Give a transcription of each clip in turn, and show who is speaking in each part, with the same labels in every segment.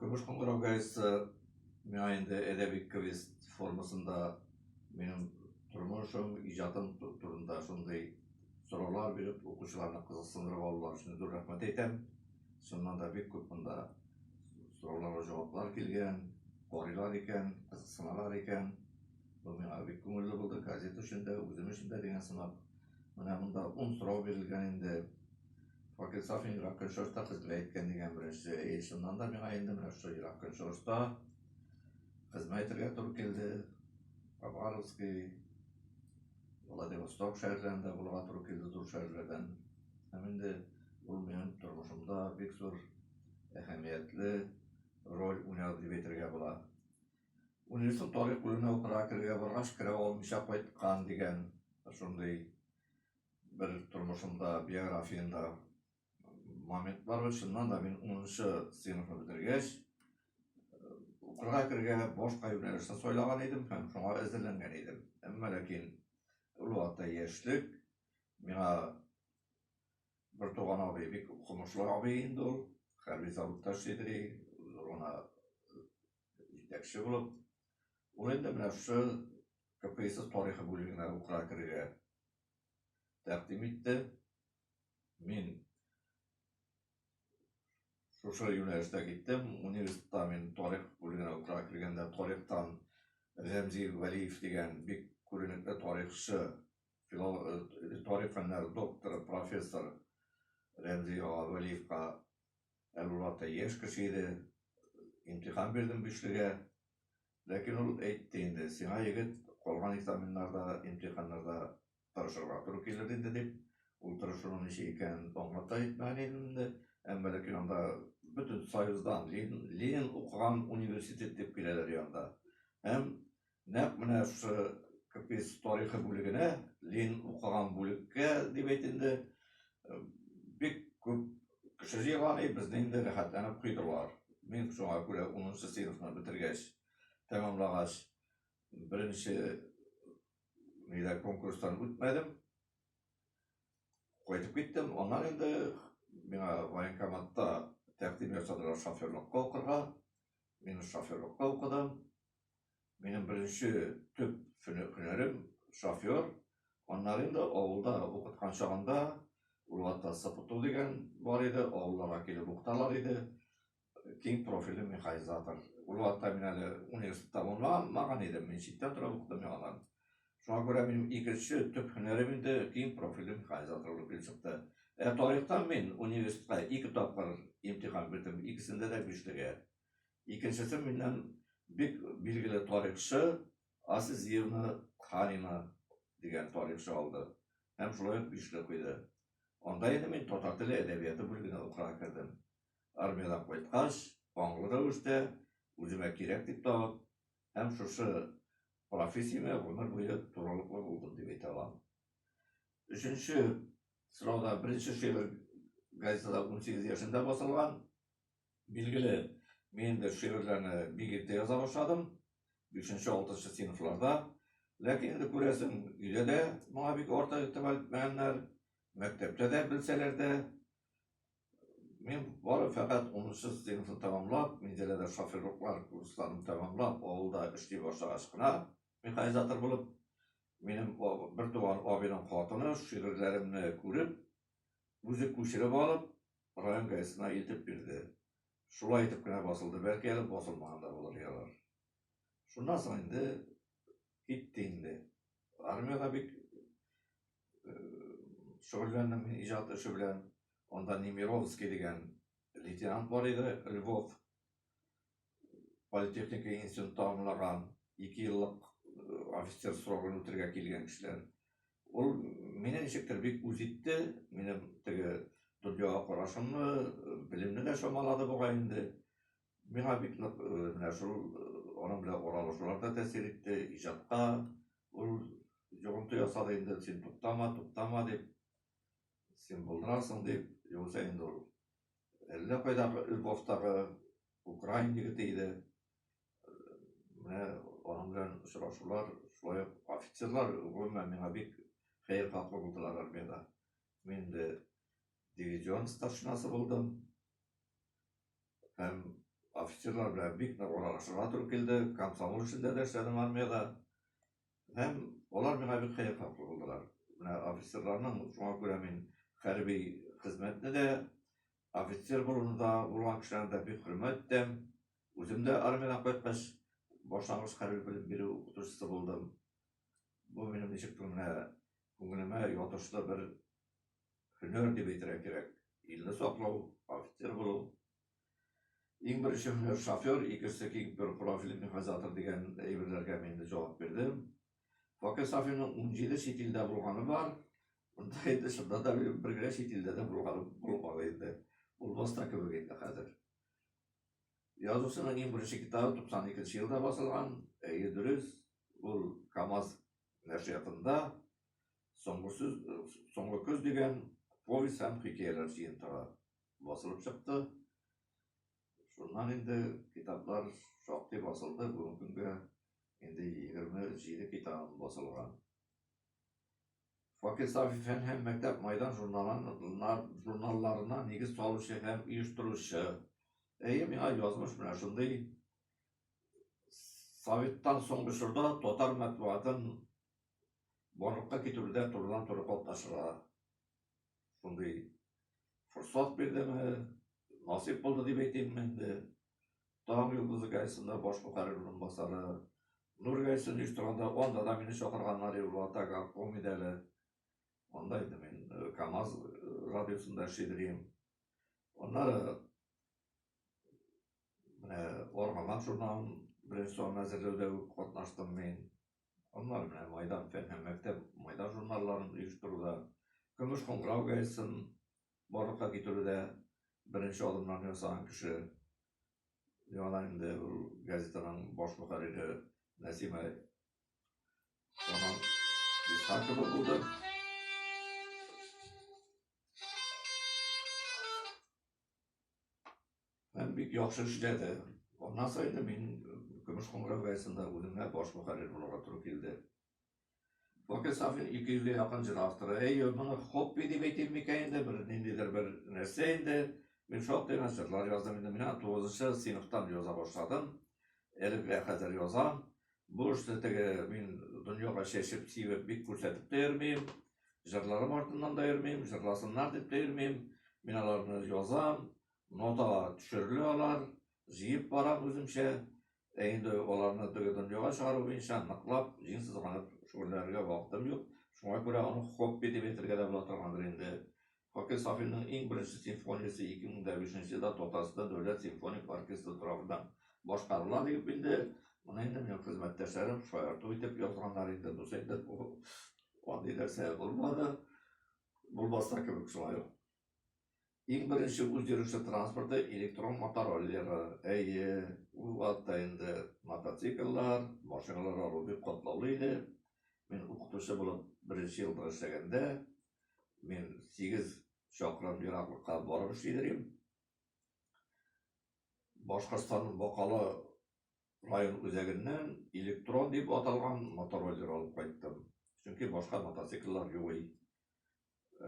Speaker 1: Көмеш кыңгырау гаетсе миңа инде әдәби квест формасында минем тормышым, иҗатым турында шундый сораулар биреп, укучыларны кызыксындырып алулар өчен зур рәхмәт әйтәм. Шуннан да бик күп монда сорауларга җаваплар килгән, карыйлар икән, кызыксыналар икән. Бу миңа бик күңелле булды, газета өчен дә, үзем өчен дә дигән сымак. Менә монда ун сорау бирелгән инде. Вакит Сафин Ерак Көнчыгышта хезмәт иткән дигән беренче. Әйе, чыннан да миңа инде менә шул Ерак Көнчыгышта хезмәт итәргә туры килде. Хабаровский, Владивосток шәһәрләрендә булырга туры килде, зур шәһәрләрдән. Һәм инде ул минем тормышымда бик зур әһәмиятле роль уйнады дип әйтергә була. Университет тарих бүлегенә укырга керергә баргач, керә алмыйча кайткан дигән шундый бер тормышымда, биографиямдә момент бар ул. Чыннан да мин 10-нчы сыйныфны бетергәч, укырга кергә башка юнәлешне сайлаган идем һәм шуңа әзерләнгән идем. Әмма ләкин ул вакытта яшьлек миңа бер туган абый, бик укымышлы абый инде ул, хәрби заводта эшли ди, зур гына җитәкче булып. Ул инде менә шушы КПСС тарихы бүлегенә укырга керергә тәкъдим итте. Мин шушы юнәлештә киттем. Университетта мин тарих бүлегенә укырга килгәндә тарихтан Рәмзи Вәлиев дигән бик күренекле тарихчы, э, тарих фәннәре докторы, профессор Рәмзи ага Вәлиевка әле яшь кеше иде. Имтихан бирдем бишлегә. Ләкин ул әйтте инде, сиңа, егет, калган экзаменнарда, имтиханнарда тырышырга туры килер инде, дип. Ул тырышуның ничек икәнен аңлап та әйтмәгән идем инде. Әмма ләкин анда бөтен Союздан, Ленин укыган университет дип киләләр янда. Һәм нәкъ менә шушы КПИС тарихы бүлегенә, Ленин укыган бүлеккә дип әйт инде, бик күп кеше җыелган, и безне инде рәхәтләнеп куйдылар. Мин шуңа күрә 10 сыйныфны бетергәч, тәмамлагач, беренче нидә конкурстан үтмәдем. Кайтып киттем. Аннан инде миңа военкоматта тәкъдим ясадылар шоферлыкка укырга. Мин шоферлыкка укыдым. Минем беренче төп һөнәрем шофер. Аннары инде авылда укыткан чагында Улватта Сапуту дигән бар иде, авылларга килеп укыталар иде. Киң профильле механизатор. Улватта мин әле университет тәмамламаган идем, мин читтә торып укыдым яңадан. Шуңа күрә минем икенче төп һөнәрем инде киң профильле механизатор булып килеп чыкты. Ә тарихтан мин университетка ике тапкыр имтихан бирдем, икесендә дә бишлегә. Икенчесе миннән бик билгеле тарихчы Азизиевна Ханина дигән тарихчы алды һәм шулай ук бишле куйды. Анда инде мин татар теле әдәбияты бүлегенә укырга кердем. Армиядән кайткач, аңлы рәвештә үземә кирәк дип табып һәм шушы профессиямә гомер буе турылыклы булдым дип әйтә алам. Өченче сорауда беренче шигырь газетада 18 яшендә басылган, Билгеле, мин дә шигырьләрне бик иртә яза башладым, бишенче, алтынчы сыйныфларда. Ләкин инде күрәсең, өйдә дә моңа бик артык игътибар итмәгәннәр, мәктәптә дә белсәләр дә. Мин бары фәкать унынчы сыйныфны тәмамлап, Минзәләдә шоферлыклар курсларын тәмамлап, авылда эшли башлагач кына, механизатор булып, минем бер туган абыйның хатыны шигырьләремне күреп, Үзе күчереп алып, район газетына илтеп бирде. Шулай итеп кенә басылды, бәлки әле басылмаган да булыр язар. Шуннан соң инде китте инде. Армиядә бик шөгыльләндем мин иҗат эше белән. Анда Немировский дигән лейтенант бар иде, Львов. политехника институтын тәмамлаган, ике еллык э, офицер срогын үтәргә килгән кешеләр. Ул мине ничектер бик үз итте, минем теге дөньяга карашымны, белемне дә чамалады бугай инде. Миңа бик нык э, менә шул э, аның белән аралашулар да тәэсир итте, иҗатка ул йогынты ясады инде, син туктама, туктама дип, син булдырасың дип, югыйсә инде ул Әллә кайдагы Львовтагы украин егете иде. Менә аның белән очрашулар, шулай ук офицерлар гомумән миңа бик хәер хаклы булдылар армиядә. Мин дә дивизион старшинасы булдым. Һәм офицерлар белән бик нык аралашырга туры килде. Комсомол эшендә дә эшләдем армиядә. Һәм алар миңа бик кыйммәтле булдылар. Менә офицерларның, шуңа күрә мин хәрби хезмәтне дә, офицер болында булган кешеләрне дә бик хөрмәт итәм. Үзем дә армиядән кайткач, башлангыч хәрби белем бирү укытучысы булдым. Бу минем ничектер менә күңелемә ятышлы бер һөнәр дип әйтергә кирәк. Илне саклау, офицер булу, Иң беренче менә шофер, икенчесе киң бер профильле механизатор дигән әйберләргә мин инде җавап бирдем. Факел Сафинның унҗиде чит илдә булганы бар. Монда инде шунда да минем бер генә чит илдә дә булганы булмаган инде. Булмас та кебек инде хәзер. Язучының иң беренче китабы 92 елда басылган. Әйе, дөрес. Ул КАМАЗ нәшриятында Соңгы сүз, соңгы көз дигән повесть һәм хикәяләр җыентыгы. басылып чыкты. Шуннан инде китаплар шактый басылды, бүгенге көнгә инде 27 китабым басылган. Факел Сафи фән һәм мәктәп майдан журналларына нигез салучы һәм оештыручы. Әйе, миңа язмыш менә шундый. Советтан соңгы чорда татар матбугатын барлыкка китерүдә турыдан-туры катнашырга шундый форсат бирдеме, насыйп булды дип әйтимме инде. Таң йолдызы газетасында баш мөхәррир урынбасары, Нур газетасын оештырганда анда да мине чакырганнар иде, Вата горком иде әле. Анда инде мин э, КАМАЗ э, радиосында эшли идем. Аннары менә Армамак журналын беренче санын әзерләүдә үк катнаштым мин. Аннары менә Майдан фән һәм мәктәп Майдан журналларын оештыруда, Көмеш кыңгырау газетасын барлыкка китерүдә беренче адымнарны ясаган кеше, яңадан инде ул газетаның баш мөхәррире Нәсимә Роман Исхакова булды. Һәм бик яхшы эшләде. Аннан соң инде мин Көмеш Куңгырау газетында үземә баш мөхәррир булырга туры килде. Бакир Сафин 200 гә якын җыр авторы. Әй, моны хобби дип әйтим микән инде, бер ниндидер бер нәрсә инде. Мин шактый гына җырлар яздым инде. Менә 9 сыйныфтан яза башладым. Әле генә хәзер язам. Бу эштә теге мин дөньяга чәчеп сибеп бик күрсәтеп тә йөрмим. Җырларым артыннан да йөрмим, җырласыннар дип тә йөрмим. Мин аларны язам, нотага төшерелә алар, җыеп барам үземчә. Ә инде аларны теге дөньяга чыгару буенча ныклап, җиң сызганып шөгыльләнергә вакытым юк. Шуңа күрә аны хобби дип әйтергә дә була торгандыр инде. Хакин Сафинның иң беренче симфониясе 2005 нче елда Татарстан дәүләт симфоник оркестры тарафыннан башкарыла, дип инде, моны инде минем хезмәттәшләрем шаярту итеп язганнар инде, бусы инде бу андый нәрсә булмады, булмаска кебек шулай ук. Иң беренче үз йөреше транспорты электрон мотороллеры, әйе, ул вакытта инде мотоцикллар, машиналар алу бик катлаулы иде. Мин укытучы булып беренче елда эшләгәндә, Мин 8 чакрым ераклыкка барып эшлидерим. Башкортстанның Бакалы район үзәгеннән электрон дип аталган мотороллер алып кайттым. Чөнки башка мотоцикллар юк и.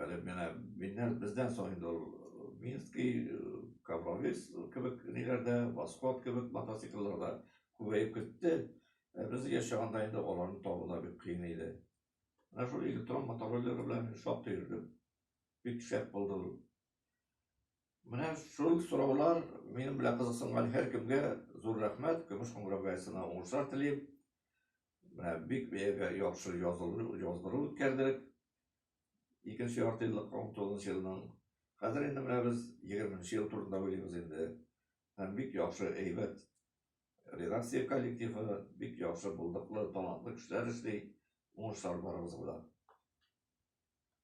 Speaker 1: Әле менә миннән бездән соң инде ул э, Минский, э, Кабровис кебек ниләрдә, Восход кебек мотоциклларда күбәеп китте. Ә без яшәгәндә инде аларны табу да бик кыен иде. Менә шул электрон мотороллеры белән мин шактый йөрдем. Бик шәп булды ул. Менә шул сораулар минем белән кызыксынган һәр кемгә зур рәхмәт. Көмеш кыңгырау гаесына уңышлар телим. Менә бик бәягә яхшы яздыру үткәрдек. Икенче ярты еллыкка 19 елның. Хәзер инде менә без 20 ел турында уйлыйбыз инде. Һәм бик яхшы әйбәт Редакция коллективы бик яхшы, булдыклы, талантлы кешеләр эшли. Уңышлар барыгызга да!